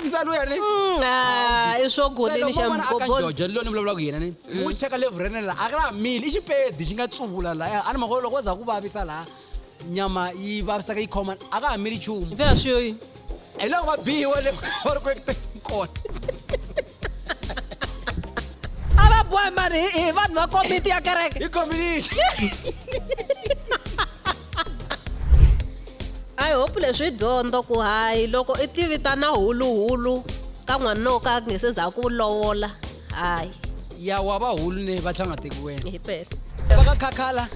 msani uya ni Mm, ah, i swo goleni xa mbobo jojo liloni vulavula ku yena ni u cheka levhu ra nela a ka laha mili i xipedi xi nga tsuvula laya a ni mhaka loko za ku vavisa laha nyama yi vavisaka yi khoma a ka ha mili nchumu fe a swi yoyi hi loko va bihiwa le va ri ku ekuteni kona a va bohi mani hi- hi vanhu va komiti ya kereke hi kombinixi i hope leswi dyondzo ku hayi loko i tivitana huluhulu ka n'wanuna wo ka a nge se za ku lovola hayi ya wa va hulu ne va tlhanga tekiweni hi pele va ka khakhala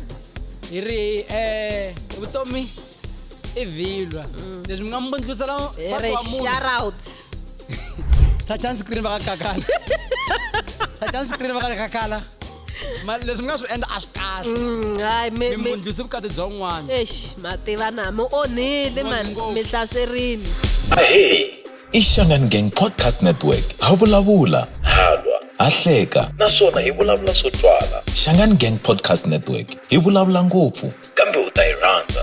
hi ri eh vutomi i vhilwa leswi mi nga mi bundhlusela Hi ri shout out touchani screen va ka kakala touchani screen va ka kakala mari leswi mi nga swi endla a swi kahle mm, hayi mimundlisi vukati bya un'wana ex mativana mi onhile mani mi hlaserini ahe i xangani gang podcast network ha vulavula halwa ha hleka naswona hi vulavula swo twala xangani gang podcast network hi vulavula ngopfu kambe u ta yi rhandza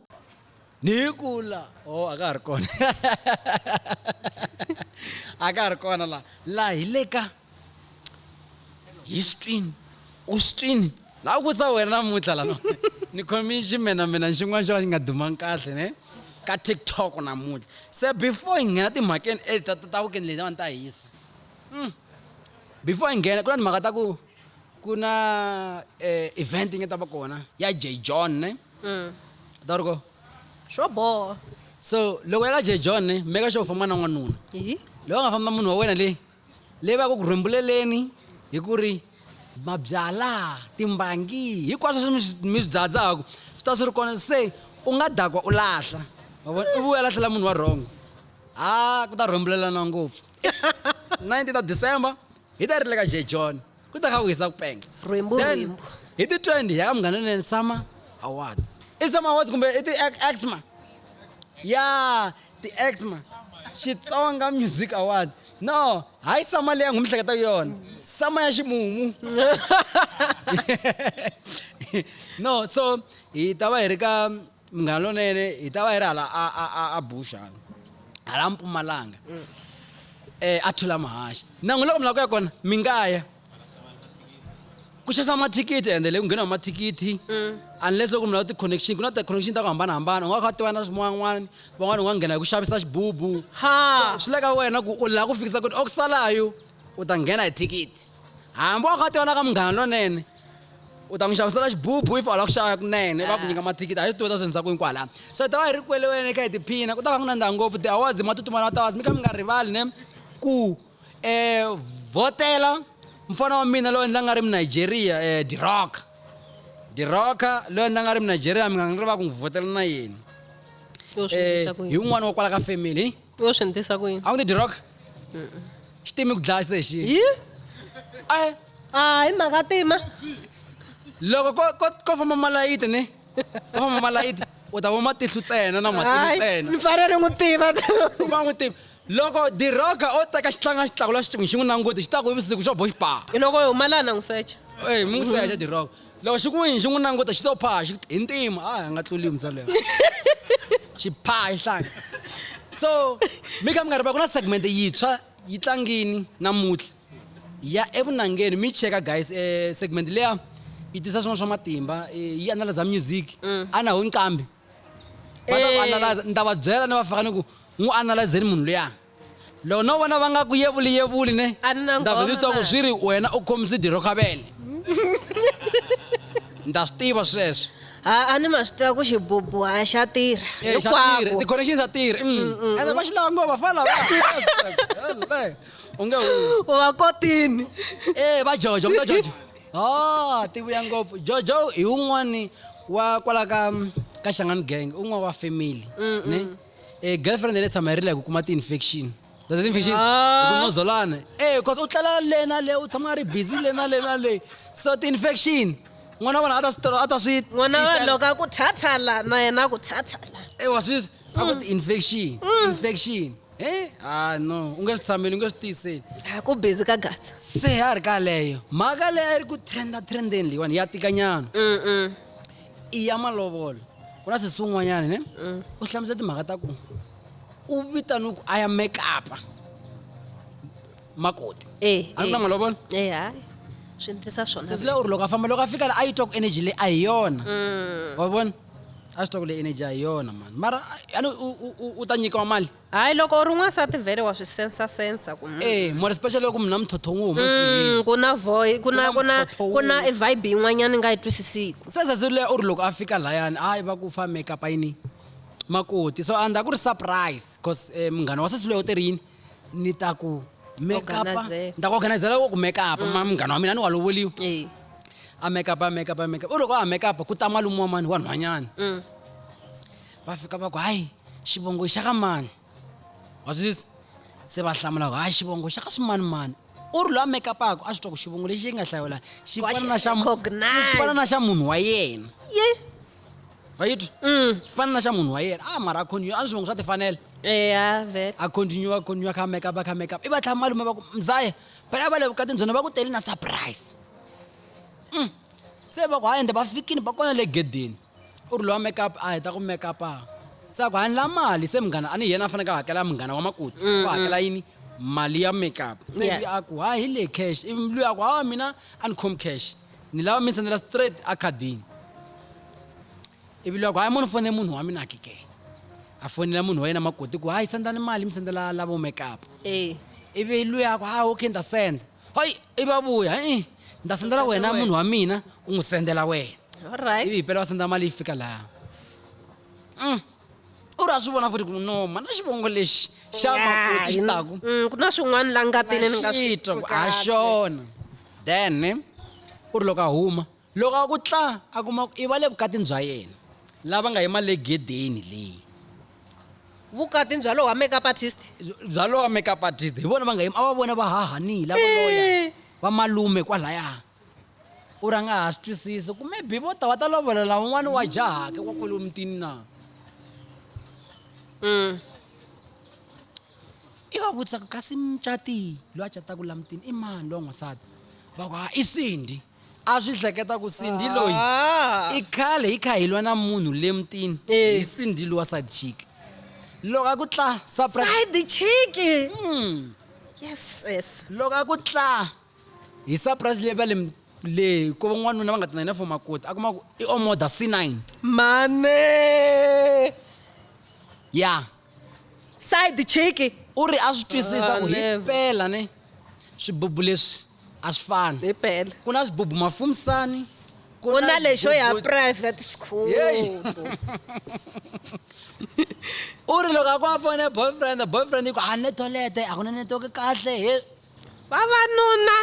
ni ku la o a ka ha ri kona a ka ha ri kona la la hi le ka histwini u swini la ku sa wena namuntlha lano ni khome ximenamena xin'wana xo ka xi nga dumangi kahle ne ka tiktok namuntlha se before hi nghena timhakeni e ta ta ta weekend leyi a ni ta hisa hmm. before hi nghena ku na timhaka ta ku ku na eh, event yi nga ta va kona ya j john ne mm. ta ri ko swo boha so loko ya ka j john ne meka sure u famba na n'wanuna loko nga famba munhu wa wena leyi leyi va ku ku rhembuleleni hi ku ri mabyala timbangi hinkwaswo swi mi swi dzadzaku swi ta swi ri kona se u nga dakwa u lahla u vuya lahlela munhu wa rhongo ha ku ta rhembulelana ngopfu 19 ta december hi ta ri le ka j john ku ta kha ku hisa ku penga Rhwimbu, Then, rhwimbu. hi ti 20 ya ka munghana lonene summer awards i summer awards kumbe i ti exma ya ti exma xitsonga music awards no hayi sama leyi angu mi hleketa ku yona sama ya ximumu no so hi ta va hi ri ka Munghana lonene hi ta va yi ri hala a a a a bush hala hala mpumalanga mm. eh a thula mahaxi na n'wi loko mi lava ku ya kona mi nga ya ku xavisa mathikithi ende le ku ngheniwa mathikithi mm. unless loko mi lava ti-connection ku na ti-connection ta ku hambanahambana u nga kha tiva na swin'wan'wana van'wana u nga nghena hi ku xavisa xibubu swi le ka wena ku u lava ku fikisa ku ri oku salayo u ta nghena hi thikithi hambi wa ka ti vonaka munghana lonene u ta n'wi xavisela xibubu if u lava ku xava kunene va ku nyika mathikithi a yi swi tiva ta swi endlisa ku yini kwalano so hi ta va hi ri kwele wena kha hi tiphina ku ta va ku nandzha ngopfu ti-awards ma tutumana ti-awards mi kha mi nga rivali ne ku um vhotela mfana wa mina loyi ndzi nga ri munigeria um diroka diroka loyi ndzi nga ri munigeria mi nga ni ri va ku n'wi vhotela na yena um hi wun'wana wa kwala ka family u yo swi ndlisa ku yini a wu ni dirok xi timi ku dlaya xexi yi a ah, hi mhaka tima loko ko ko ko famba malayiti ni ko famba malayiti u ta vona matihlu ntsena na matihlu ntsena ni fanele ni n'wi tiva u va n'wi tiva loko diroga o teka xitlanga xitlaku la xitsongo xi n'wi languti xi ta ku vusiku xo bo xi paa loko yi humalana n'wi secha Hey, mi n'wi secha diroko loko xi ku yini xi n'wi languta xi to phaa xi hi ntima a hi nga tluli mzalo ya xi phaa xi hlanga so mi kha mi nga ri va ku na segment yintshwa yi tlangini namuntlha ya evunangeni mi cheka guys eh, segment leya yi tisa swin'wana swa matimba eh, yi analyza music a na ho nqambi va ta ku analyza ni ta va byela ni va faka ni ku n'wi analyzeni munhu luya loko no vona va nga ku yevuli yevuli ne A ni na ni ta vhe ni swi tiva ku ngoma, swi ri wena u khomise diro khavele ni ta swi tiva sweswo a a ni ma swi tiva ku xibubu a xa tirha Eh, xa tirha, hinkwako ti-connection xa tirha mm. ende va xi lava ngova fana lava unge hu- u va kotini Eh, va jojo va jojo Oh, ti vuya ngopfu. Jojo hi un'wani wa kwala ka ka Shangani gang, un'wana wa family. Ne? Eh girlfriend yale tshama yi rila hi ku kuma ti infection. That is infection. Ah. Ku nozolana. Eh, cause u tlela le na le, u tshama a ri busy le na le na le. So ti infection. N'wana wa vona a ta swi tora, a ta swi n'wana wa tisela. loko a ku thathala na yena a ku thathala Eh, wa swi a ku ti infection. Infection. he ha no u nge swi tshameli u nge swi tiyiseli a ku busy ka gatsa se a ri ka leyo mhaka leyi a yi ri ku trenda trendeni leyiwani ya tikanyana mm i ya malovolo ku na sesi un'wanyana ne u hlamusela timhaka ta ku u vitaniwe ku a ya mekapa makoti eh a ni na malovolo eh hayi swi ndlisa swona sesi leyi u ri loko a famba loko a fika la a yi twa ku energy leyi a hi yona wa vona a swi tiva ku leyi energy a hi yona mani mara a- a ni- u- u- u- u ta nyikiwa mali hayi loko u ri n'wansati vhele wa swi sensa sensa ku mm, e more especially loko munhu na muthotho wo huma mm, ku na voice ku na Ku ku na na mthotho ku na wun'we. vibe yin'wanyana ni nga yi twisisiku sesesile u ri loko a fika layani hayi va ku fa makeup yini makoti so andza ku ri surprise bcause um, munghana wa sesi loyi u te ri yini ni ta ku makeup Organizer. ni ta ku organizela wo ku makeup ma munghana wa mina ni wa lovoliwa Eh. a makeup a makeup a makeup u loko a makeup ku ta malume wa mani wa nhwanyana Mm. va fika va ku hayi xivongo xa ka mani wa swi twisisa? se va hlamula ku hayi xivongo xa ka swimanimani u ri loyi a makeup-ako a swi twa ku xivongo lexi yi nga hlawula xi Wa fana na xi xa mu- recognize. xi fana na xa munhu wa yena Ye. vayitwi mm. swi fana na xa munhu wa yena a ah, mara a continue a ni swi vongo swa tifanela eh, a continue a continue kha make up a kha make up i va tlhama malume va ku mzaya phela va le vukatini byona va ku tele na surprise mm. se va ku ha ende va fikini va kona le gedeni u ri lowa make up a heta ku make up a se a ku hani la mali se munghana a ni yena a faneke a hakela munghana wa makuti mm, va hakela yini mali ya make up se a ku ha hi le cash ivi luya a ku hawa mina a ni khomi cash ni lava mi sendela straight ekhadini ivi loko hayi mo ni fone munhu wa mina kike a fonela munhu wa yena makoti ku hayi sendani mali mi sendela lavo makeup eh. ivi luya ku hayi okay nda senda hayi ivi a vuya i nda sendela wena munhu wa mina u n'wi sendela wena alright ivi hipela va senda mali yi fika laha mm. u ri a swi vona futhi ku no mana xivongo lexi xa makoti xi taku mm, ku na swin'wana la ngatini ni nga swi ha xona Then u ri loko a huma, loko a ku tla, a kuma ku i va le vukatini bya yena, lava nga yima le gedeni le. Vukatini bya lowa makeup artist? Bya lowa makeup artist. Hi vona va nga yima, a va vona va hahanii, lava loya, va malume kwalaya. U ri a nga ha swi twisisi ku maybe vo ta va ta lovolela un'wana wa jahake wa kwale mutini na. I va vutisa ku kasi mucati loyi a cataka la mutini i mani lowa n'wansati va ku ha i sindi a swi hleketa ku sindi ah. loyi i khale hi kha hi lwa na munhu le mutini eh. hi sindi lowa side chick loko a ku tla side chick hmm. yes yes loko a ku tla hi surprise leyi va le le ko van'wanuna va nga tinayina for makoti a kuma ku i omoda c9 mane ya yeah. side chick u ri a swi twisisa ku hi Whatever. pela ne swibubu leswi a swi fani hi pela ku na swibubu mafumisani ku ku na lexo ya swibubu- private school Yeyi. u ri loko a ku a fone boyfriend boyfriend yi ku a netolete a ku na netoke kahle he vavanuna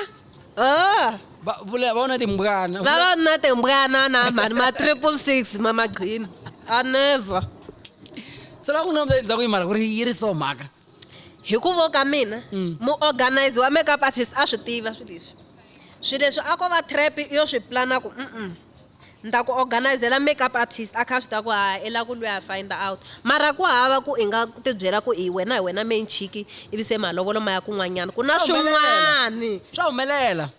oh. Va- vula- va vona timbwana Vula- vavanuna timbwana na mhani ma triple six ma magqini a never so loko ni nga endzhaku yi mara ku ri yi ri so mhaka hi ku vo ka mina Mm. muorganize wa makeup artist a swi tiva swilo leswi swilo leswi a ko va trap yo swi plana ku mm Nita ku organizela makeup artist a kha a swi tiva ku haa i la ku lweha find out mara ku hava ku i nga ti byela ku i wena hi wena main chick ivi se malovolo ma ya kun'wanyana ku na swin'wani. Swa humelela.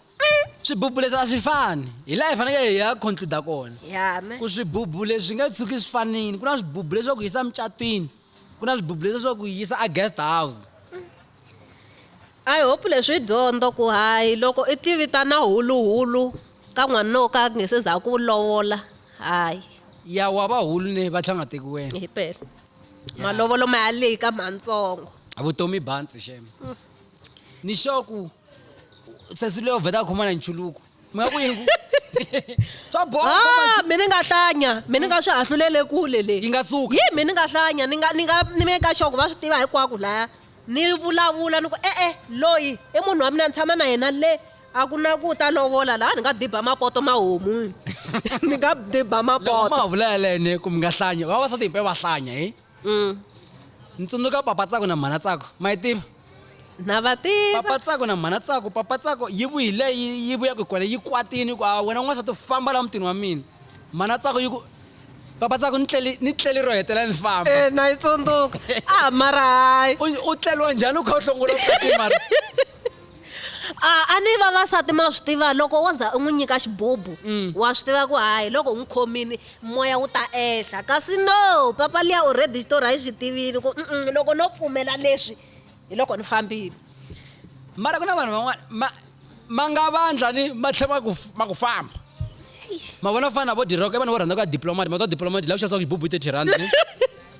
Swibubu leswi a swi fani. Hi laha hi fanekele hi ya conclude kona. Ku swibubu leswi nge tshuki swi fanile. Ku na swibubu leswi swa ku yisa mucatwini. Ku na swibubu leswi swa ku yi yisa a guest house. I hope leswi i dyondzo ku hayi loko i ti vitana huluhulu ka n'wanuna wo ka a nge se za ku lovola hayi. Ya wa va hulu ne va tlhela va nga teki wena. Himpela. Malovolo ma ya lika ma ntsongo. Vutomi i bantsi shame. Ni sure ku sesi luya u vheta a khoma na nchuluko. mi nga ku yini ku swa bola Ah, mi ni nga hlanya mi ni nga swi hahlulele kule le yi nga suka yi mi ni nga hlanya ni nga ni nga ni meka sure ku va swi tiva hinkwako laya ni vulavula ni ku e-e loyi i munhu wa mina ni tshama na yena le a ku na ku ta lovola laha ni nga diba mapoto ma homu ni nga diba loko ma mapoto ha vula yalene ku mi nga hlanya vavasati himpe va hlanya hi Mm. Ni tsundzuka papa tsako na mhana tsako. Ma yi tiva? Na va tiva. Papa tsako na mhana tsako, papa tsako yi vuyile yi vuya ku kona yi kwatini ku a wena n'wansati famba la mutini wa mina. Mhana tsako yi ku papa tsako ni tleli ni tleli ro hetela ni famba. Eh na yi tsundzuka. Ah mara hayi. U tleliwa njhani u kha u hlongolo mara. a a ni vavasati ma swi tiva loko wo za u n'wi nyika xibubu mm. wa swi tiva ku hayi loko u n'wi khomini moya wu ta ehla kasi no papa liya already xitori a yi swi tivini ku mm loko no pfumela leswi hi loko ni fambile mara ku na vanhu van'wana ma ma nga vandla ni ma tlhe ma ku ma ku famba ma vona fana vo diroko i vanhu vo rhandza ku ya diplomati ma twa diplomati la ku xavisa ku xibubu hi thirty rand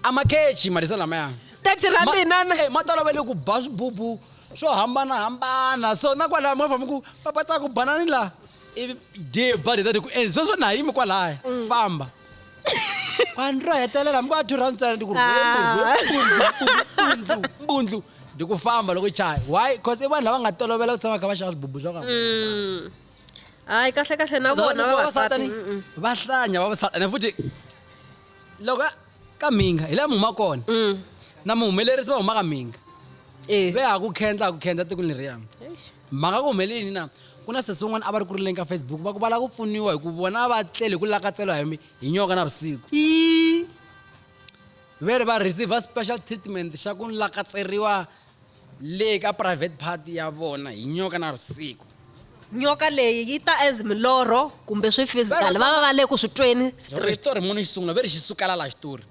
a ma kechi malisa lamaya thirty rand inana eh, ma tolovele ku ba swibubu swo hambanahambana so na kwalaya movha mi ku papata ku banani laha ivi je ba leta ku and sweswo na yimi kwalaya mm. famba vanhu ro hetelela mi ku a two round tsena ndi ku mbundlu ndi ku famba loko chaya why cause i vanhu lava nga tolovela ku tshama kha va xava swibubu swa ka mm. hayi kahle kahle na vona vavasati va hlanya vavasati and futhi loko ka mhinga hi laha mi humaka kona mm. na muhumelerisi va huma ka mhinga eh. ve ha ku khendla ha ku khendla tiko leriya mhaka ku humelelini na ku na sesi un'wana a va ri ku rileni ka facebook va ku va lava ku pfuniwa hi ku vona va tlele hi ku lakatseliwa hi hi nyoka na vusiku ve ri va receive special treatment xa ku lakatseriwa Le ka private part ya vona hi nyoka na vusiku. Nyoka leyi yi ta as milorho kumbe swi physical va va va le ku swi tweni Loko straight. xitori munhu xi sungula ve ri xi sukela la xitori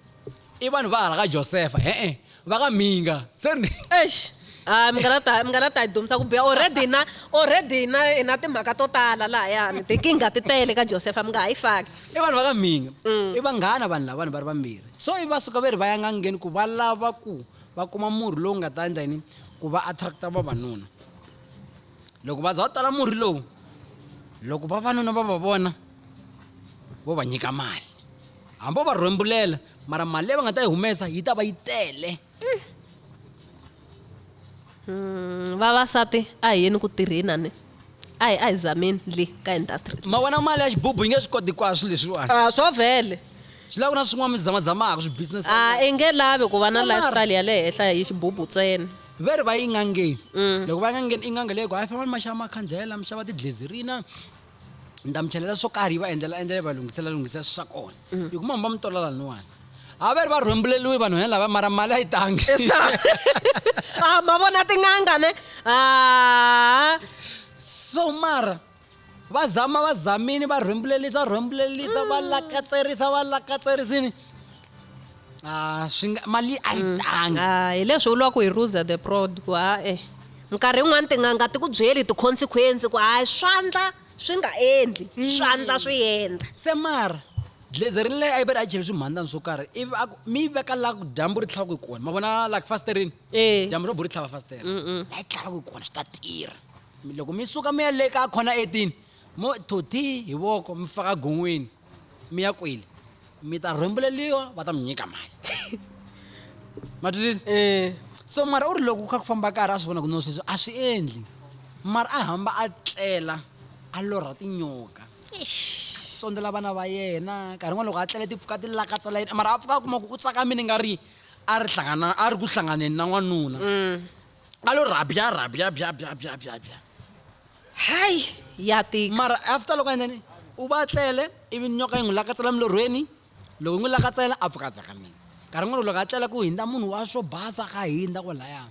i vanhu va hala ka Josefa e-e va ka mhinga se ni Eish a mi nga la ta mi nga la ta hi dumisa ku biha already na already na na timhaka to tala lahayani tikinga ti tele ka Josefa mi nga ha yi faki. i vanhu va ka mhinga i vanghana vanhu lavani va ri vambirhi so ivi va suka ve ri va ya n'angeni ku va lava ku va kuma murhi lowu nga ta endla yini ku va attract-a vavanuna loko va za va tala murhi lowu loko vavanuna va va vona vo va nyika mali hambi va rhwembulela mara mali leyi va nga ta yi humesa yi ta va yi tele mm, vavasati a hi yeni ku tirheni a ni a hi a hi zameni le ka industry ma vona mali ya xibubu yi nge swi koti kwaswo leswiwani a swo vhele swi lava ku na swin'wana mi zamazamaka swibusiness a i nge lavi ku va na lifestyle ya le henhla hi xibubu ntsena ve ri va yi ngangeni mm. loko va yi ngangeni i nganga leyi ku hayi fanele ni ma xava makhandlela mi xava tidlezirina ni ta mi chelela swo karhi yi va endlela endlela yi va lunghisela lunghisela swi swa kona mm. hi kuma mi va mi tola laniwani a va ri va rhwembuleliwi vanhu ya lava mara mali a yi tangi a ma vona tin'anga ne a so mara va zama va zamini va rhwembulelisa rhwembulelisa va mm. lakatserisa va lakatserisini a swi nga mali a yi mm. tangi a hi leswi u lwa ku hi ruza the prod ku ha e nkarhi yin'wani tin'anga ti ku byeli ti-consequence ku hayi swandla swi nga endli mm. swandla swi endla se mara Glezer ri leye ivi ri a chele swimhandzani swo karhi ivi a ku mi yi veka la ku dyambu ri tlhaku hi kona ma vona la ku fasiterini Eh. dyambu ro bo ri tlhava fasitera la yi tlhavaku hi kona swi ta tirha Mi- loko mi suka mi ya le ka khona etini mo thoti hi voko mi faka gon'weni mi ya kwele mi ta rhwembuleliwa va ta mi nyika mali ma twisisa Eh. so mara u ri loko ku kha ku famba karhi a swi vona ku no sweswi a swi endli mara a hamba a tlela a lorha tinyoka tsondzela vana va yena nkarhi n'wana loko a tlele ti pfuka ti lakatsa la yini mara a pfuka a kuma ku ku tsaka mina nga ri a ri hlangana a ri ku hlanganeni na n'wanuna mm. a lo rhabya rhabya bya bya bya bya bya hayi ya tika mara after loko endleni u va tlele ivi nyoka yi n'wi lakatsela milorhweni loko yi n'wi lakatsela a pfuka a tsaka mina nkarhi n'wana loko a tlela ku hindza munhu wa swo basa ka hindza kwalaya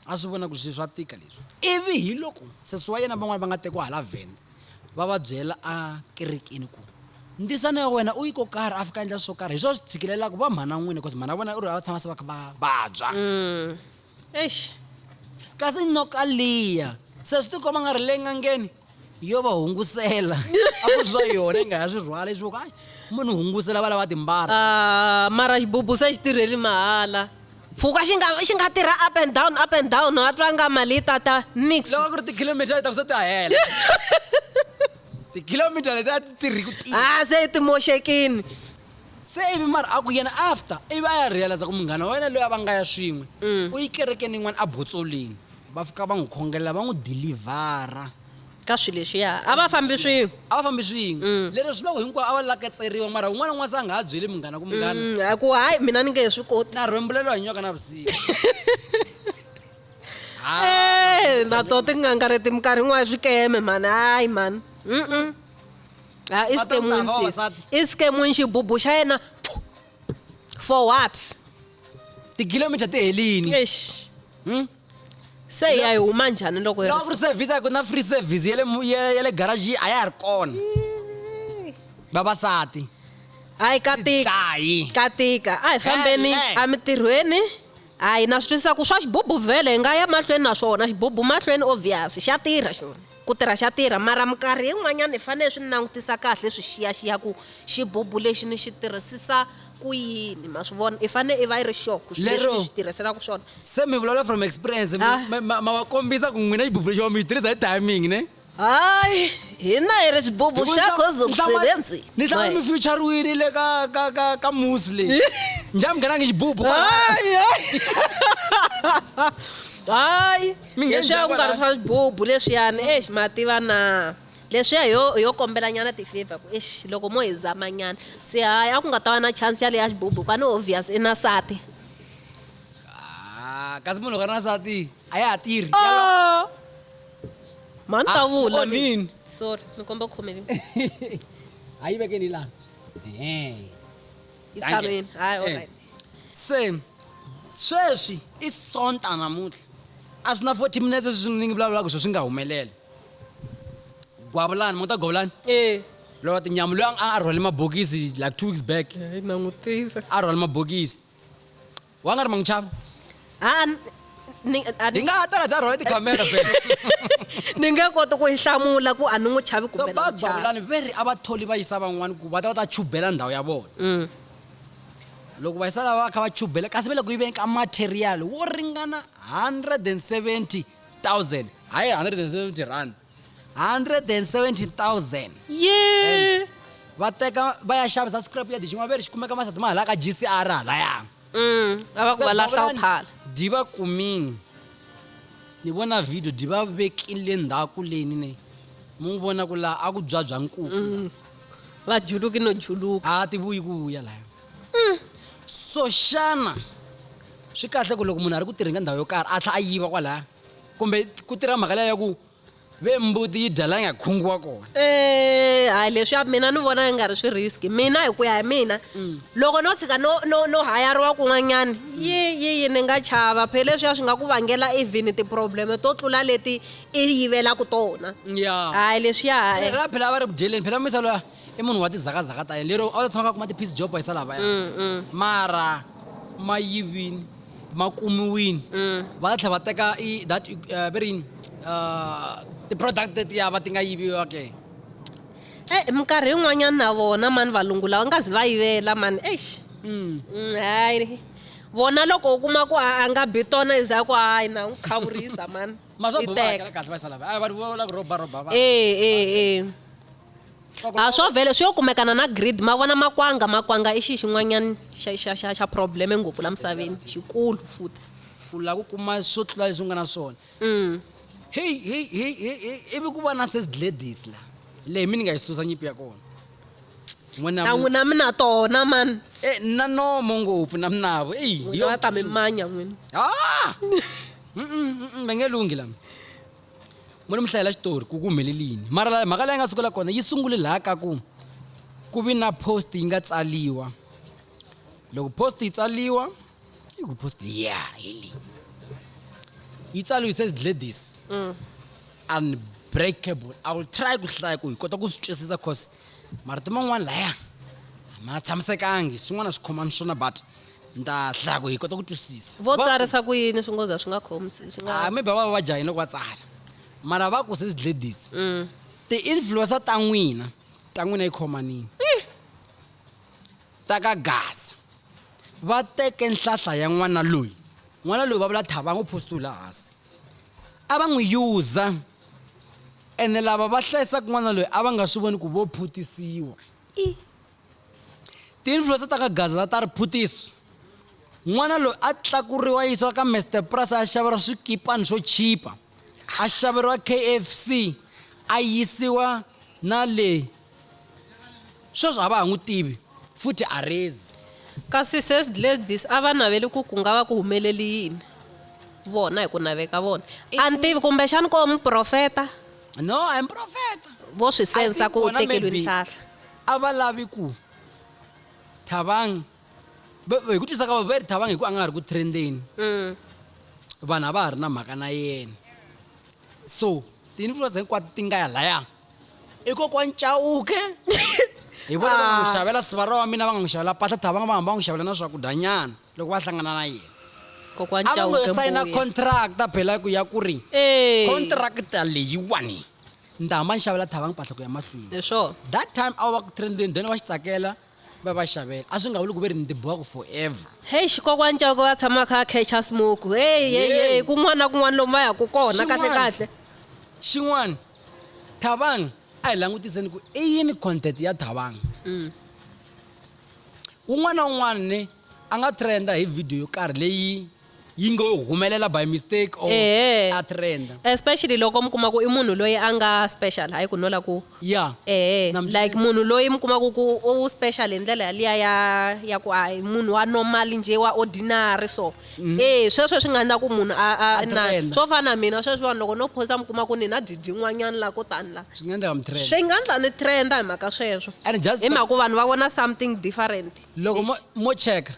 A swi vona ku swi swa tika leswi. Ivi hi loko sesi wa yena van'wana va nga tekiwa hala Venda, va va byela a kerekeni ku, Ndzisana ya wena u yi ko karhi a fika a endla swo karhi, hi swona swi tshikilelaka va mhana n'wina, because mhana vona u ri a va tshama se va kha va vabya. Eish! Kasi nyoka liya, se swi ti komba nga ri le n'angeni? yo va hungusela a ku swa yona yi nga ha swi rhwala leswi voko munhu hungusela va lava timbara ah, mara xibubu se xi tirheli mahala pfuka xi nga xi nga tirha up and down up and down a twa nga mali yi tata nix loko ku ri tikhilomitara yi ta ku se ti hela tikhilomitara leti a ti tirhi ku tirha a ah, se ti moxekini se ivi mara a ku yena after ivi a ya realiza ku munghana wa wena loyi a va nga ya swin'we mm. u yi kerekeni yin'wana a botsolini Va fika va n'wi khongela, va n'wi dilivhara. Ka swilo leswiya. A va fambi swin'we. A va fambi swin'we. Lero swi loko hinkwavo a va laketseriwa mara un'wana na un'wana se a nga ha byeli munghana ku, Munghana. A ku, Hayi, mina ni nge he swi koti. Na rhwembula loyi a nywaka navusiku. Eeh, na tona tin'anga leti minkarhi yin'wana i swikeme mhani, hayi mhani. Hayi i xikwemwini sesi. I xikwemwini, xibubu xa yena. for what tikilomita ti helini eish Hmm? se hi ya hi huma njhani loko hi loko ku ri service a ku na free service ya le mu- ya ya le garage yi a ya ha ri kona vavasati hayi katika dlayi katika a hi fambeni Hele. emitirhweni Hayi na swi twisisa ku swa xibubu vhele hi nga ya mahlweni na swona xibubu mahlweni obvious xa tirha xona ku tirha xa tirha mara minkarhi yin'wanyana hi fanele swi langutisa kahle hi swi xiyaxiya ku xibubu lexi ni xi tirhisisa ku yini ma swi vona i fanele i va i ri sure ku swilo leswi ni swi tirhiselaka swona se mi vulavula from experience ma ma ma va kombisa ku n'wina xibubu lexi wa mi xi tirhisa hi timing ne hayi hina hi ri xibubu xa gozo ku sebenzi ni tlanga mi futurerile le ka ka ka ka muzi leyi njhani mi nghenangi xibubu hayi hayi leswiya ku nga ri swa xibubu leswiyani exi ma tiva na leswiya yo yo kombelanyana ti-favor ku exi loko mo hi zamanyana se hayi a ku nga ta va na chance yaleya xibubu kwani obvious i na sati ah, kasi munhu loko a ri na sati a ya ha tirhi oh. Ma ni ta Ah, vula oh, mi- nini? sorry mi komba ku khomeliwa a yi vekeni laha Ehe. yi Danke. tshameni hayi Eh. alright se sweswi i sonta namuntlha a swi na 40 minutes leswi ni ngi vulavulaka swo swi nga humeleli gwavulani muta gwavulani eh lowa tinyamu loyi a a rhwale mabokisi like two weeks back hayi na n'wi tiva a rhwale mabokisi wanga ri ma n'wi chava a ni a ni- hi nga ha tala bya rhola tikhamera be ni nge koti ku yi hlamula ku a ni n'wi chavi so kumbe na n'wi chava bagulani ve ri a va tholi va yisa van'wani ku va ta va ta chubela ndhawu ya vona Mm. loko va yisa lava va kha va chubela kasi ve le ku yiveni ka material wo ringana 170000 hayi 170 rand 117000 ye va teka va ya xavisa scrap ya dijin'wana ve ri xi kumeka masati ma halaka gcr halaya Mm, a va ku va lahla u phala di va kumini ni vona video di va vekile ndhaku leni ne mu n'wi vona ku laha a ku byabya nkuku Mm. va juluki no juluka a ti vuyi ku vuya laya Mm. so xana swi kahle ku loko munhu a ri ku tirheni ka ndhawu yo karhi a tlha a yiva kwalaya kumbe ku tirha mhaka leya ku ve mbuti yi dya la nga khungiwa kona eh, hayi leswi mina ni vona yi nga ri swi risk mina hi ku ya hi mina mm. loko no tshika no no no hayariwa kun'wanyana yi yi yi ni nga chava phe leswiya swi nga ku vangela even ti-problem to tlula leti i yivelaka tona ya hayi leswiya hayi ra phela a va ri ku dyeleni phela misa loya i munhu wa tizakazaka ta yena lero a wu ta tshama ka kuma ti-peace job hi salava ya mm, mm. mara ma yivini ma kumiwini va tlhela va teka i that eh, ve ri yini Ah, ti-product tetiya va ti nga yiviwa ke e minkarhi yin'wanyana na vona mani valungu lawa nga zi va yivela mani eish Mm, hayi vona loko u kuma ku a a nga bi tona i za ku hayi na n'wi khavurisa mani ma swa I boha teka. hakela kahle va yi salava a vanhu vo la ku roba roba va ee ee ee a swo vhele swi yo kumekana na grid ma vona makwanga makwanga i xi xin'wanyana xa xa xa xa probleme ngopfu la misaveni xikulu futhi u lava ku kuma swo tlula leswi u nga na swona mm. heyi heyi heyi heyi ivi ku va na sesidledis la leyi mi ni nga yi susa nyipi ya kona nan'wi na mi na tona mani e eh, na nomo ngopfu na minavo eyi yo ta mi manya n'wini ah! va nge lunghi lama Mune mi hlayela xitori ku ku humelele yini mara la mhaka leyi nga sukela kona yi sungule laha ka ku ku vi na post yi nga tsaliwa loko post yi tsaliwa i ku post ya hi leyi yi tsaliwe it says Gladys unbreakable I will try ku hlaya ku hi kota ku swi twisisa cause marito man'wana laya a ma tshamisekangi swin'wana a swi khomangi swona but. Ndhadla, ku hi kota ku twisisa. Vo tsarisa ku yini swingoza swi nga khomi swi nga. Ah, maybe a va va va jahile loko va tsala. Mara va ku sis Gladys, ti influencer ta n'wina ta n'wina yi khomanini. Ta ka Gaza va teke nhlahla ya n'wana loyi, n'wana loyi va vula Thabang u postiwe laha hansi. A va n'wi user ene lava va hlayisaku n'wana loyi a va nga swi voni ku vo phutisiwa. Tinhloso ta ka Gazala ta Riphuthisi, N'wana loyi a tlakuriwa a yisiwa ka Mr Price a ya xaveriwa swikipani swo chipa, a xaveriwa KFC, a yisiwa na le sweswi a va ha n'wi tivi futhi a rezi. Kasi sesi Gladys a va naveli ku ku nga va ku humeleli yini vona hi ku naveka vona? A ni tivi, kumbexani ko muprofeta? No, a hi muprofeta. Vo swi sensa ku u tekeriwi nhlahla. A va lavi ku Thabang va hi ku twisa ka vona va ri Thabang hi ku a nga ha ri ku trendeni vanhu a va ha ri na mhaka na yena so ti-influencer hinkwato ti nga ya laya i kokwani Chauke hi vona va nga n'wi xavela sivara wa mina va nga n'wi xavela mpahla Thabang va hamba va n'wi xavela na swakudyanyana loko va hlangana na yena Kokwani a va ngo Chauke yo sayina Mbuya. contract a bela ku ya ku ri Eh. contract leyiwani ndzi ta hamba ni xavela thavanga mpahla ku ya mahlweni Hi swona. that time a va ku trendeni then va xi tsakela va va xavela a swi nga vuli ku ve ri ndzi bohaka forever heyi xikokwani cauke va tshama kha catcha smoke heyi heyi Yey. heyi kun'wana na kun'wana lomu va yaka kona kahle Xin'wana. kahle xin'wana thavanga a hi langutiseni ku i yini content ya thavanga Un'wana na un'wana a nga trenda hi video yo karhi leyi yi ngo humelela by mistake or Ehe. a trenda. especially loko mi kuma ku i munhu loyi a nga special hayi ku no la ku Yeah. ehe Na mi- like munhu loyi mi kumaku ku u special hi ndlela yaliya ya ya ku a hi munhu wa normal njhe wa ordinary so e sweswo swi nga endla ku munhu a a A na trenda. swo fana na mina sweswi vanhu loko no posta mi kuma ku ni na didi yin'wanyani la ko tani la swi nga endleka mi trend swi nga ndla ni trenda hi mhaka sweswo and just hi mhaka ku vanhu va vona something different loko mo, mo cheka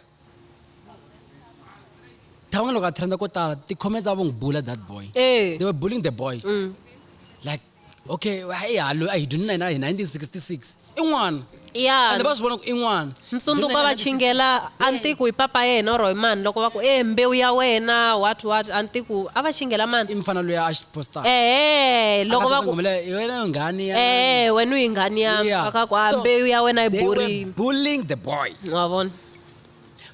than'we loko a trenda ko tala ti-comments a vo n'wi bula that boy e they were bullying the boy like okay i halo a hi dyini na hina hi 1966 i n'wana ya and va swi vona ku i n'wana msunduka va chingela antiku hi papa yena or hi mani loko va ku e mbewu ya wena what what antiku a va chingela mani i mfana loyi a xi postaka ehe loko va ku hi wena nghani ya ehe wena u yi nghani ya Yeah. aka ku a So, mbewu ya wena yi they were borile bullying the boy wa vona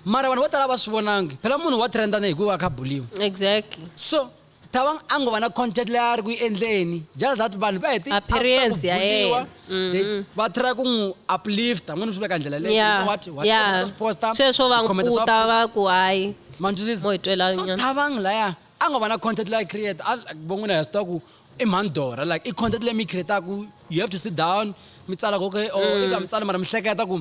mara vanhu vo tala va swi vonangi phela munhu wa trendana hikuva a kha buliwa exactly so Thabang a ngo va na concert leyi a ri ku yi endleni just that vanhu va heti after ku Appearance ya buliwa yena. they va try ku n'wi uplifta ngo ni swi veka hi ndlela leyo you know what what ya swi posta sweswo va comment n'wi swa kuta va ku hayi ma ni twisisa mo hi twela so nyana. Thabang laya a ngo va na content leyi a yi create a like vo n'wina hi swi tiva ku i mhani Dora like i content leyi mi yi create-aku you have to sit down mi tsala ku okay or if a mi tsali mara mi hleketa ku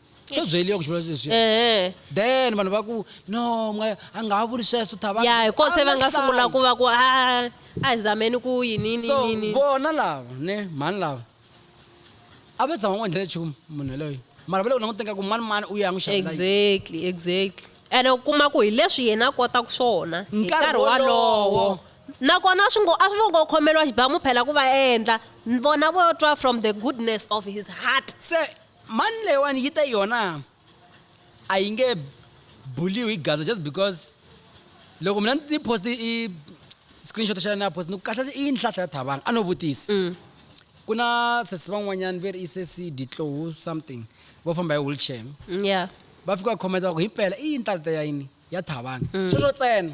swo byeliwa ku xivula leswi ehe then vanhu va ku no mwa- a nga ha vuli sweswo thava ya hi kose va nga sungula ku va ku a a hi zameni ku yini yini so yini vona lava ne mhani lava a va tshama n'wi endlela nchumu munhu yaloyo mara va le ku languteni ka ku mani mani u ya n'wi xavela yini. exactly exactly ene u kuma ku hi leswi yena a kotaka swona hi Nkarhi nkarhi wolowo. wolowo nakona swi ngo a swi ngo khomeriwa xibamu phela ku va endla vona vo twa from the goodness of his heart se Mani leyiwani yi te yona a yi nge buliwi hi Gaza just because loko mina ni post i screenshot xa yona ya post ni ku kahle i yini hlahla ya thabanga a no vutisa mm. ku na sesi van'wanyana ve ri i sesi ditlowu something vo famba hi wheelchair mm, yeah. va fika va khometa va ku himpela i yini talita ya yini ya thavana. Sweswo tsena.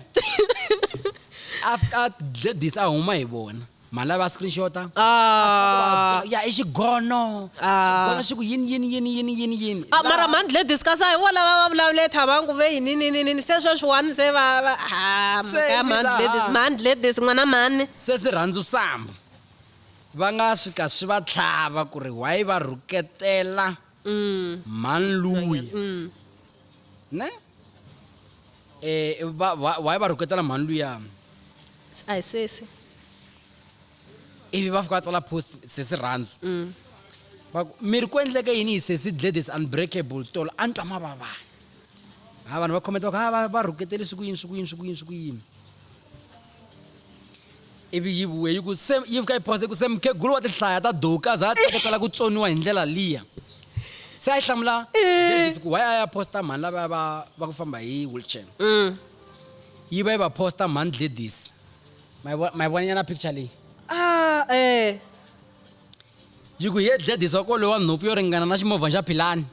After Gladys a huma hi vona. Mhani va screenshot-a. Aah. Ya i xigono. Xigono xi ku yini yini yini yini yini yini. A mara mhani Gladys kasi a hi vona lava va vulavule thavana ku ve yini yini yini se sweswiwani se va va haa mhaka ya mhani Gladys mhani Gladys n'wana mhani. Se swi rhandzu sambo. Va nga swi ka swi va tlhava ku ri why va rhuketela. Mm. Man Louis. Mm. Ne? Eh, ba, ba, why ba roketela man Louis ya? Ai sesi. Ivi ba fika tsala post sesi ranzo. Mm. Ba mi ri ku endleke yini sesi Gladys unbreakable tolo a ntwa mavava. Ha vanhu va comment va ku ha ba roketele siku yini siku yini siku yini siku yini. ivi yi vuye yi ku se yi fika yi phosa yi ku se mukhegulu wa tihlaya ta doka za a teketela ku tsoniwa hi ndlela liya se a yi hlamula eh. ku why a ya posta mhani lavaya va va ku famba hi wheelchair mm. yi va yi va posta mhani gladys ma yi vonanyana picture leyi ah, eh. yi ku hi ye gladys wa kolowa nhopfu yo ringana na ximovhana xa philani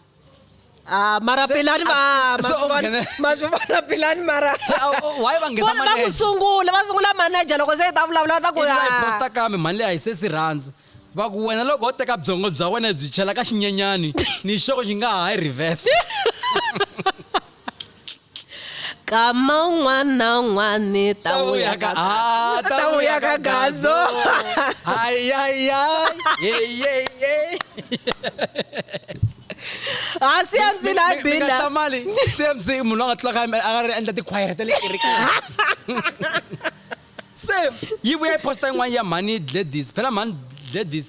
Ah, mara Se- pilani va a- se u nghene- maswivona pilani mara Se a- u- why va nghenisa Vona va ku manager? sungula va sungula manager loko se hi ta vulavula va ta ku ivi va yi "Ah, posta kambe mali leyi a yi se si rhandza va ku wena loko wo teka byongo bya wena byi chela ka xinyenyani ni xoko xi nga ha yi reverse kama un'wana na un'wana ni ta n'wi ya ka Ah, ta n'wi ya ka gazo hansi ya ndzi la bina mali cmc munhu loyi a nga tlulaka a nga ri endla tikhwayere ta le kerekeni se yi vuya yi posta yin'wana ya mhani gladys phela mhani gladys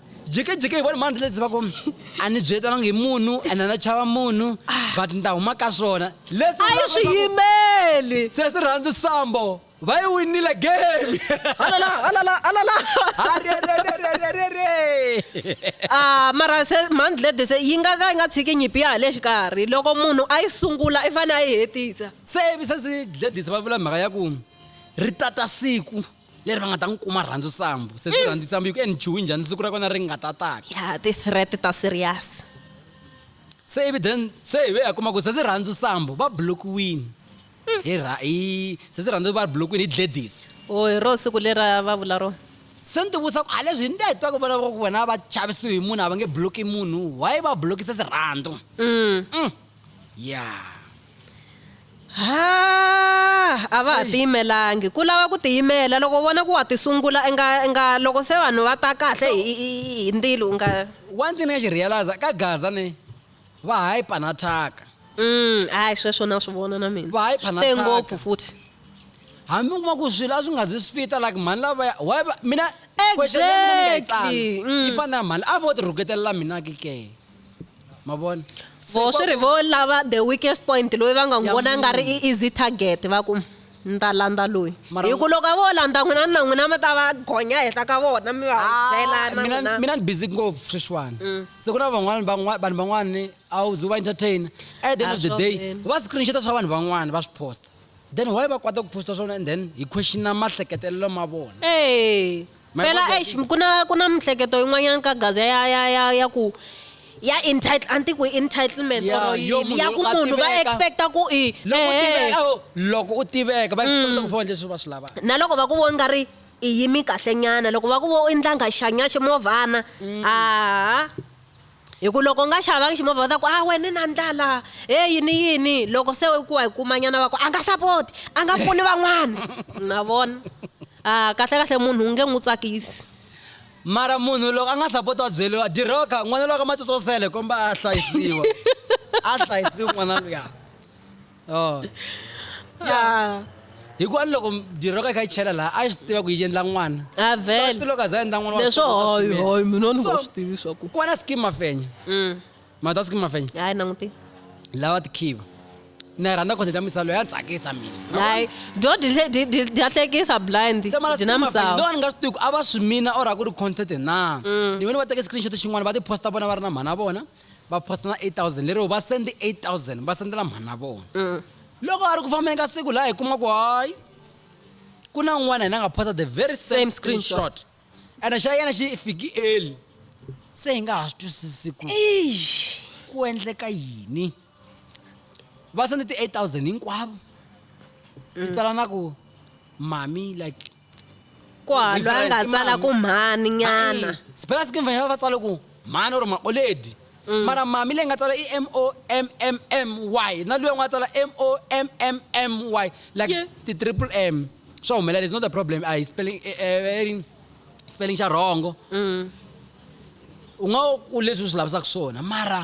jekejeke hi vona mani tlele tiva ku a ni byetanga hi munhu ene na chava munhu but ni ta huma ka swona leswi a yi swi yimeli se swi rhandzi sambo va yi winile game alala alala alala ah mara se month lady se yi nga ka yi nga tshiki nyipi ya le xikarhi loko munhu a yi sungula i fanele a yi hetisa se se si dledisa va vula mhaka ya ku ri tata siku leri va nga ta n'wi kuma rhandzu sambu se swi rhandzi sambu yi ku enchiwi njhani siku ra kona ri nga ta taka ya ti-threat ta serious se ivi then se hi ve ya kuma ku se swi rhandzu sambu va blokiwini hi ra hi se swi rhandzu va blokiwini hi gladys o hi ro siku lera va vula rona se ni tivutisa ku a leswi hi nde hi twa ku vona va ku vona va chavisiwe hi munhu a va nge bloki munhu why va blokise sirhandzu mm. mm. Yaa! Haa! A va ha tiyimelangi. Ku lava ku tiyimela. Loko u vona ku wa tisungula, inga, inga loko se vanhu va ta kahle hi, hi, hi ndilo, inga. One thing ni nga xi realize-a, ka Gaza ne, va hyper na thyaka. Umm, hayi sweswo na swi vona na mina. Va hyper na thyaka. Swi te ngopfu futhi. Hambi u kuma ku swilo a swi nga zi swi fita, like mhani lavaya, why va, mina, question ya mina ni nga yi tsala, yi fana na ya mhani, a vo ti rhuketelela mina ke ke? ma vona vo swi ri vo lava the weakest point loyi va nga n'wi vona nga ri i easy target va ku ni ta landza loyi hi ku loko vo landza n'wina na n'wina mi ta va gonya henhla ka vona mi va ah, byelana mina ni busy ngopfu sweswiwani mm. se ku na van'wana vanhu van'wani a wu ze va entertaina at the end of the day va screenshota swa vanhu van'wana va swi posta then why va kwata ku posta swona and then hi questiona mahleketelelo ma vona My phela God, eish ku na ku na mihleketo yin'wanyana ka gaza ya ya ya ya ku ya entitle a ni ti ku i entitlement Ya, or yo yini munhu ya ku loko a munhu va tiveka. expecta ku i loko u ehe. tiveka awu, loko u tiveka va expect ku fona leswi va swi lavaka na loko va ku vo nga ri i yimi kahlenyana loko va ku vo i ndlangha xanyaxe movhana a hi ku loko u nga xavangi ximovha va ta ku a ah, wena ni na ndlala he yini yini loko se ku wa hi kumanyana va ku a nga sapoti a nga pfuni van'wana na vona a ah, kahle kahle munhu u nge n'wi tsakisi mara munhu loko a nga sapoti wa byeliwa diroka n'wana lowa ka matsotsosele komba a hlayisiwa a hlayisiwa n'wana luya Oh. ya hikuva ni loko jirho ka yi kha yi chela laha a yi swi tiva ku yi endla n'wana avele Tsotsi loko a za endla n'wana wa leswo kula hoyi swinene. hoyi mina ni nga So- swi tivi swaku ku va na skim mafenya Mm. mata skim mafenya hayi nanguti lawa tikhiva na yi rhandza content ya misalo ya tsakisa mina hayi dyo dyi- dyi- dyi- dya hlekisa blind Se mara dyi na skim mafenya, misava lowa ni nga swi tivi ku a va swi mina or a ku ri content na ni vone va teke screenshot xin'wana va ti posta vona va ri na mhana vona va posta na 8000 lero va sendi 8000 va sendela mhana vona mm. loko a ri ku fambeni ka siku laha hi kuma ku hayi ku na un'wana hina nga posta the very same, same screenshot ene xa yena xi fiki eli se hi nga ha swi twisisi ku ku endleka yini va sende ti-8000 hinkwavo yi mm. tsala na ku mami like kwalwa Different, a nga i tsala mani? ku mhani nyana Hayi, sibelasi ke mvanyana va tsala ku mhani or maoledi Mm. mara mami leyi nga tsala i m o m m m y na luya n'wana a tsala m o m m m y like Yeah. ti-triple m swa humelela it's not a problem a hi spelling eh, eh, i ring- spelling xa rhongo Mm. u nga ku leswi u swi lavisaka swona mara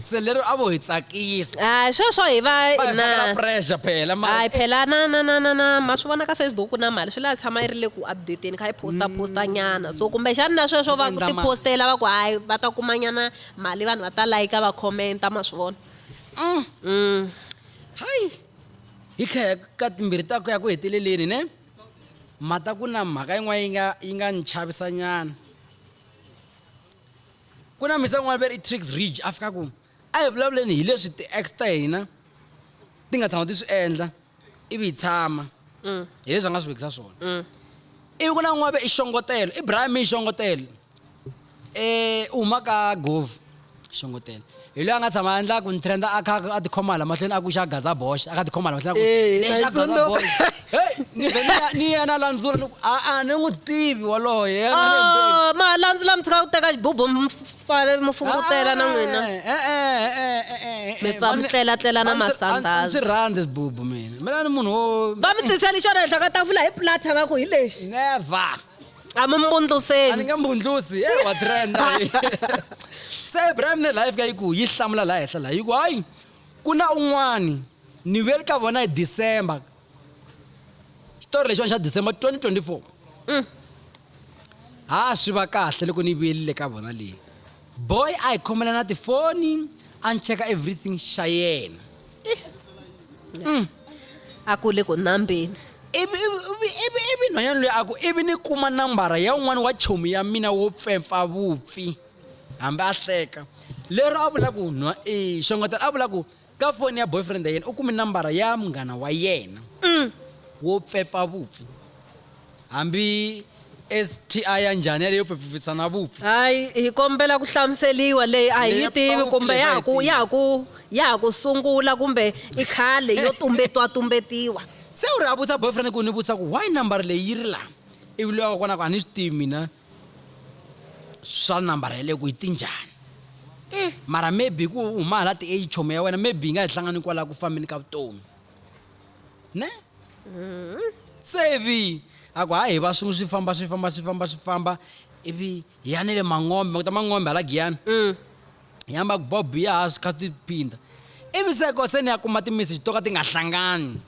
se lero a vo hi tsakisa a sweswo hi va na pressure phela ma hayi phela na na na na na ma swi vona ka Facebook na mali swi la tshama yi ri le ku update kha yi posta mm. posta nyana so kumbe xana na sweswo va ku ti postela va ku hayi va ta kuma nyana mali vanhu va ta like va comment ma swi vona mm. mm hayi hi kha ka timbirhi ta ku ya ku heteleleni ne mata ku na mhaka yin'wana yi nga yi nga ni chavisanyana Ku na mhisa yin'wana va ri i Triggs Ridge, a fika ku, A hi vulavuleni hi leswi ti-ex ta hina ti nga tshama ti swi endla ivi hi tshama, hi leswi a nga swi vekisa swona. Ivi ku na un'wana va ri i Xongotelo, i Brian May Xongotelo, u huma ka Govhu, Xongotelo. hi loyi a nga tshama a endla ku ni trenda a kha a tikhoma hala mahlweni a ku xa gaza bosh a kha tikhoma hala mahlweni eh, ni xa gaza bosh hey ni ve ni ya na landzula ni a a ni n'wi tivi waloye a ni mbe ah, ma landzula mi tshika ku teka xibubu mfale mu fungutela na n'wina eh eh eh eh eh, eh, eh mi pfa mi tlela tlela na masandhazi ndzi rhandza xibubu mina mina ni munhu wo va mi tiseli xona henhla ka tafula hi plata va ku hi lexi never a mi mbundluseni a ni nge mbundlusi e wa trenda se Ibrahim ne life ka yi ku yi hlamula la henhla la yi ku hayi ku na un'wani ni vuye ka vona hi December xitori lexiwani xa December 2024 mm. ha swi va kahle loko ni vuyelile ka vona leyi boy a hi khomela na tifoni a ni cheka everything xa yena Mm. a ku le ku nambeni ivi ivi- ivi- ivi- ivi nhwanyana loyi a ku ivi ni kuma nambara ya un'wana wa chomi ya mina wo pfempfa vupfi hambi a hleka lero a vula ku nhwa eh, xongetela a vula ku ka foni ya boyfriend ya yena u kume nambara ya munghana wa yena wo pfempfa vupfi Hambi STI ya njhani yaleyo pfipfipfisa na vupfi. Hayi, hi kombela ku hlamuseriwa. Leyi a hi yi tivi kumbe ya ha ku ya ha ku ya ha ku sungula kumbe i khale yo tumbetiwatumbetiwa. Se u ri a vutisa boyfriend ku ni vutisa ku why nambara leyi yi ri la ivi loyi wa kona a ku a ni swi tivi mina swa nambara yaleyo ku yi ti njhani mara maybe hi ku u huma hala ti-age chomi ya wena maybe yi nga hi hlangani kwala ku fambeni ka vutomi. ne se ivi a ku hayi hi va swin'we swi famba swi famba swi famba swi famba ivi hi ya ni le mangombe makuta mangombe hala giyani mm. hi yamba ku bob ya ha swi kha ti phinda ivi se ko se ni ya kuma timeseji to ka ti nga hlangani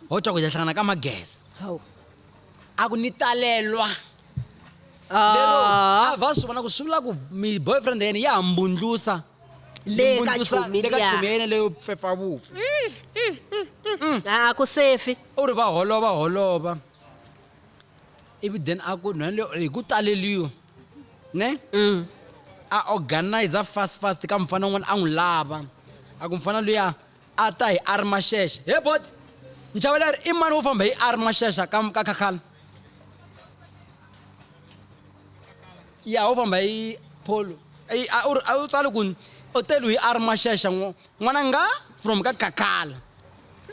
ho cwa ku hi ta hlangana ka mageza a ku ni talelwa lero a va swi vona ku swi vula ku mi boyfriend ya yena ya ha mbundlusa le ka chomi le ka chomi ya yena leyo pfepfa vupfu a ku sefi u ri va holova holova ivi then a ku nhwana leyo hi ku taleliwa ne mm. a organizer fast fast ka mfana un'wana a n'wi lava a ku mfana luya A ta hi Armashesha. He bot! Nchaweleri i mani wo famba hi Armashesha ka, ka Khakhala? Ya, wo famba hi Polo. A wu tsali ku u telu hi Armashesha n'wana nga from ka Khakhala.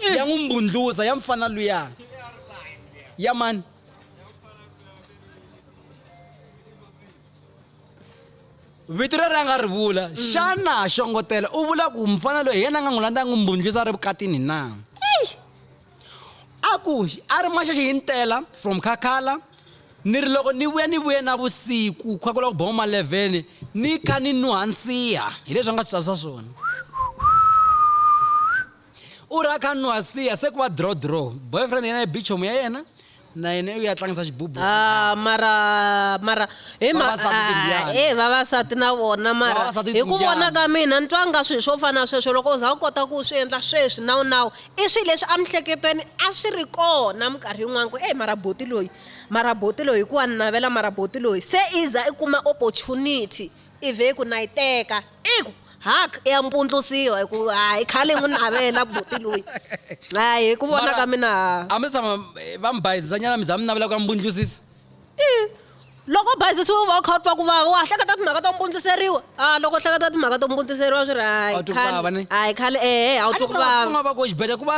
Eh. Ya n'wi mbundluza ya mfana luya. Ya mani? vito leri a nga ri vula mm. xana xongotela u vula ku mufana loyi hi yena a nga n'wi landza a n'wi mbundlisa a ri vukatini na a ku a ri maxaxi hi ntela from khakhala ni ri loko ni vuya ni vuye na vusiku kha ku la ku boma malevhene ni kha ni nuhansiha hi leswi a nga swi tsasa swona u ri a kha a nwa a siya se ku va draw draw boyfriend yena i bichomu ya yena na yena u ya tlangisa xibubu Ah, mara mara hi ma- Vavasati ah, timbyana. eh, vavasati na vona mara Vavasati hi ku timbyana. vona ka mina ni twa nga swilo swo fana na sweswo loko u za u kota ku swi endla sweswi nawu nawu i swilo leswi emihleketweni a swi ri kona minkarhi yin'wana ku e mara boti loyi mara boti loyi hikuva ni navela mara boti loyi se i za i kuma opportunity i vhe ku na yi teka I ku haka ya mpundlusiwa hi ku hayi khale n'wi navela buti loyi hayi hi ku vona ka mina a mi tshama eh, va mi bayizisanyana mi za mi navela ku ya mi pundlusisa loko bayizisiwa u va u kha u twa ku vava wa hleketa timhaka to mpundluseriwa a loko hleketa timhaka to mpundluseriwa swi ri hayi khale hayi khale ehe a wu twi ku vava va ko xibedhlele ku va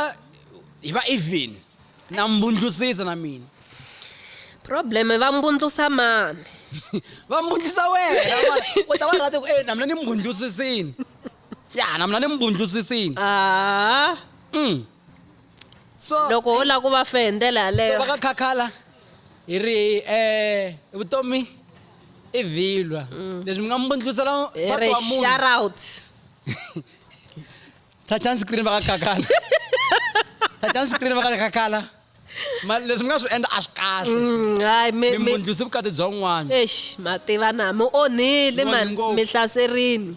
hi va even na mbundlusisa na mina problem va mbundlusa mani va mbundlusa wena u ta va rati ku e na mina ni mbundlusisini ya na mina ni mbundlusisini ah. mm. so loko ho lava ku va fe hi ndlela yaleyo va ka khakhala hi ri um vutomi i vhilwa mm. leswi mi nga mbundlusela va twa munhu thathani screen va ka kakala thathani screen va ka le kakala ma leswi mi nga swi endla a swi kahle Mm, hayi mi- mi mi- mbundlusi vukati bya un'wana eish mativana mi onhile Mi onhe mani ngopfu. mi hlaserini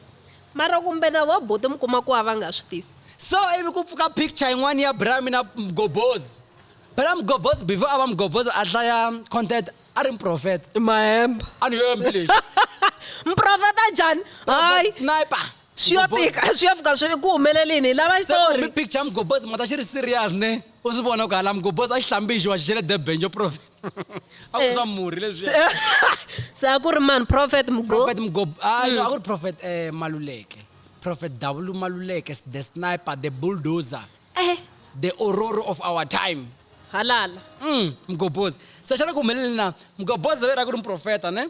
mara kumbe na va bote mi kuma ku va va nga swi tivi so ivi ku pfuka picture yin'wana ya brami na mgobozi phela mgobozi before a va mgobozi a hlaya content a ri mprofeta mahemba a ni yombi lexi mprofeta njhani hayi sniper swi yo Mgobozi. fika swi yo fika swi ku humelelini hi lava se kumbe xitori picture ya mgobozi mata xi ri serious ne u swi vona ku hala mgobozi a xi hlambixiwa xi xele debenjo prophet a ku Eh. swa murhi leswiya se a ku ri mani prophet mgo prophet mgob hayi no a ku ri prophet eh, maluleke prophet w maluleke the sniper the bulldozer Eh, the ororo of our time halala Mm, mgobozi se xana ku humelele na mgobozi veri a ku ri muprofeta ne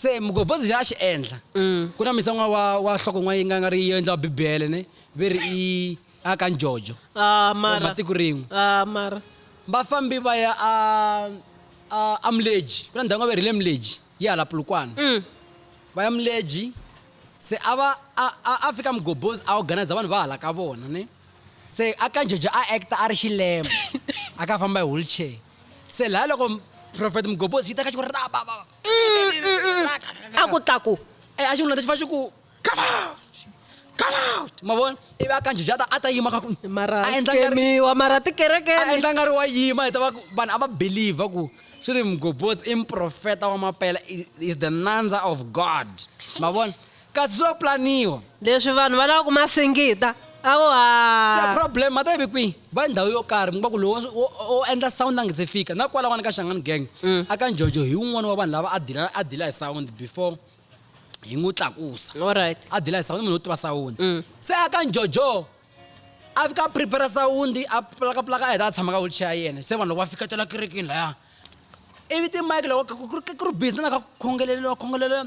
se mugobozi xa a xi endla mm. ku na misan'wa wa wa hloko n'wana yi nga nga ri yo endla wa bibele ne ve ri i a ka njojo ah, matiko rin'we ah, vafambi va ya a a muleji ku na ndhawu nga ve ri le muleji yi hala pulukwana mm. va ya muleji se a va a fika mugobozi a organiza vanhu va hala ka vona ne se a ka njojo a acta a ri xilema a ka famba hi wheelchair se laha loko profeta mugobhozi yi teka xi ku ra ba ba a ku tlaku e a xi n'wina lexi fa xi ku come out come out ma vona ivi a kanjijata a ta yima ka ku mara a endla ngariwa mara tikereke a endla nga ri wa yima hi ta va ku vanhu a va believer ku swi ri mugobhozi i mprofeta wa mapela is the nandza of god ma vona Ka zwo planiwa. Leswi vanhu va lava ku ma singita. A vo ha. Se problem ma ta yi vi kwihi? Va ndhawu yo karhi mi kuma ku lowo wo wo endla sound a nga se fika. Na kwalawani ka Shangani Gang, a ka Njojo hi wun'wana wa vanhu lava a dila a dila hi sound before hi n'wi tlakusa. Alright. A dila hi sound i munhu wo tiva sound. Se a ka Njojo a fika a prepare-a sound, a pulakapulaka a heta a tshama ka wheelchair ya yena. Se vanhu loko va fiketela kerekeni laya, ivi ti-mic loko ku ri ku ri busy na laha ka ku khongeleriwa khongeleriwa.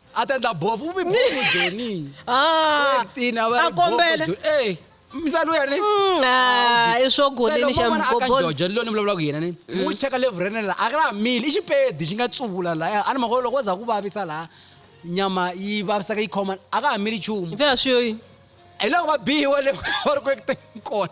a ta endla bofu u mi bofu joni Ah, Thirteen, a va ri a kombela. bofu, Joni. Eh, misalo ya ni Mm, ah, i swo goleni xa mgobozi mgobozi ni loni vulavula ku yena ni n'wi cheka levhu ra yena la a ka ra ha mili i xipedi xi nga tsuvula laya a ni mhaka yo loko wo za ku vavisa laha nyama yi vavisaka yi khoma a ka ha mili nchumu vya swi yo yini hi loko va biwa le va ri ku ekuteni kona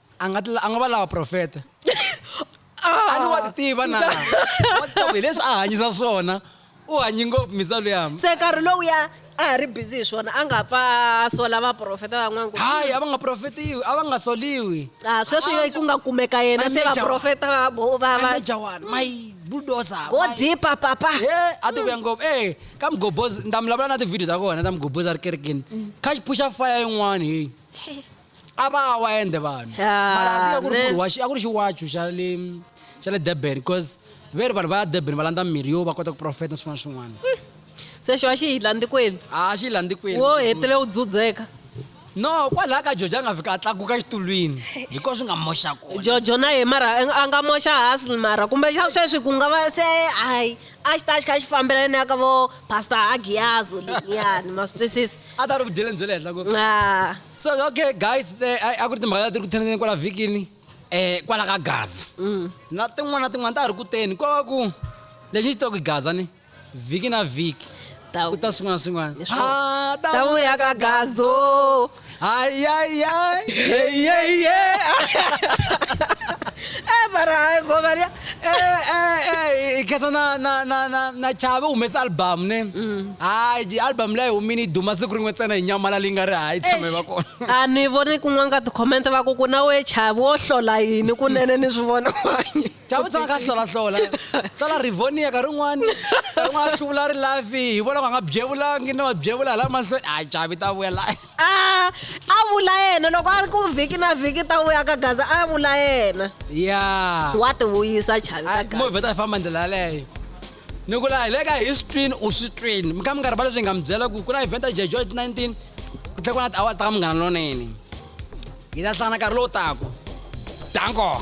a nga a nga va lava profeta a ni wa ti tiva na wa ti tiva hi leswi a hanyisa swona u hanyi ngopfu misalo ya se nkarhi lowuya a ha ri busy hi swona a nga pfa sola vaprofeta van'wana hayi a va nga profetiwi a va nga soliwi a sweswi ku nga kumeka yena se vaprofeta va va va jawani my bulldozer go deeper papa he a ti vuya ngopfu eh ka mgobozi ni ta mi lavula na ti-video ta kona ta mgobozi a ri kerekeni kha xi phuxa fire yin'wana heyi a va wa ende vanhu Ah, mara a ku ri ne. ku ri wa xi- a ku ri xiwachu xa le xa le durban because ve ri vanhu va ya durban va landza mirhi yo va kota ku profeta na swin'wana na swin'wana se xo a xi hi landzikweni a xi landzikweni wo hetile u dzudzeka no kwalaha ka jojo a nga fika a tlakuka xitulwini hikuva swi nga moxa kona jojo na ye mara a nga moxa hasl mara kumbe xa sweswi ku nga va se hayi a xi ta xi kha xi fambela ni ya ka vo pastor agiyazo liyani ma swi twisisa a ta ri vudyeleni bya le henhla ngopfu Ah. so okay guys eh, a- a ku ri timhaka leti ri ku theneleni kwala vhikini um kwala ka gaza na tin'wana na tin'wana ta ha ri kuteni ko va ku lexi xi toki gaza ni vhiki na vhiki Ta- ku ta swin'wana na swin'wana Leswo- Ah, ta ta vuya ka gazo hayayayi yeyeye e mara hayi ngoma liya Eh, i khetha na na na na na chave u humesa album ne Hayi, ji- album leyi humini yi duma siku rin'we ntsena hi nyamala leyi nga ri hayi tshame va kona a ni voni kun'wana ka tikhomente va ku ku na we chavi wo hlola yini kunene ni swi vona wanye chava tshama ka hlolahlola hlola rivonia ka rin'wani ka rin'wana a hluvula ri lafi hi vona ku a nga byevulangi na wa byevula hi la mahlweni a chavi ta vuya la Ah, a vula yena loko a ri ku vhiki na vhiki ta vuya ka gaza a vula yena ya wa ti vuyisa chavi ka gaza movhe ta famba ndlela yaleyo ni ku la hi le ka history u swi twini mi kha mi nga rivali leswi hi nga mi byela ku ku na event ya jejo 19 ku tlhe ku na tiawara ta ka munghana lonene hi ta hlangana nkarhi lowu taku danko